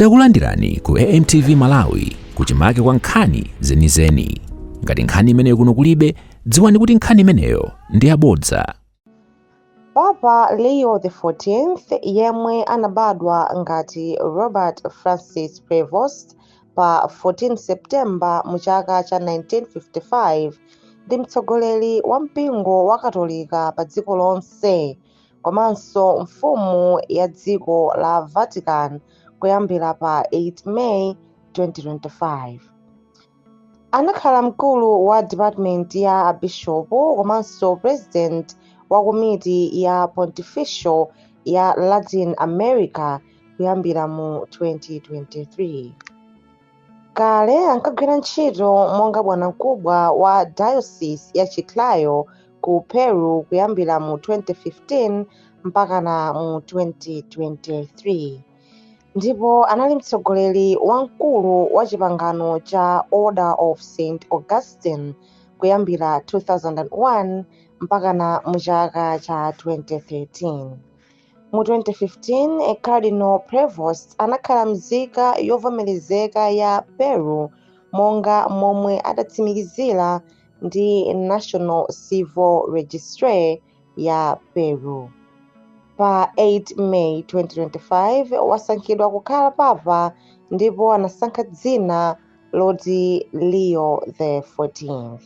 Takulandirani ku AMTV Malawi kuchimake kwa nkhani zenizeni. Ngati nkhani imeneyo kuno kulibe, dziwani kuti nkhani imeneyo ndi yabodza. Papa Leo XIV yemwe anabadwa ngati Robert Francis Prevost pa 14 September mu chaka cha 1955 ndi mtsogoleri wa mpingo wa Katolika pa dziko lonse komanso mfumu ya dziko la vatican kuyambira pa 8 may 2025 anakhala mkulu wa department ya abishopu komanso president wa komiti ya pontifical ya latin america kuyambira mu 2023 Kale ankagwira ntchito monga bwanamkubwa wa Diocese ya Chiclayo ku Peru kuyambira mu 2015 mpakana mu 2023. Ndipo anali mtsogoleri wamkulu wa chipangano cha Order of St. Augustine kuyambira 2001 mpakana mu chaka cha 2013. Mu 2015, Cardinal Prevost anakhala mzika yovomerezeka ya Peru monga momwe adatsimikizira ndi National Civil Registry ya Peru. Pa 8 May 2025, wasankhidwa kukhala papa ndipo anasankha dzina loti Leo the 14th.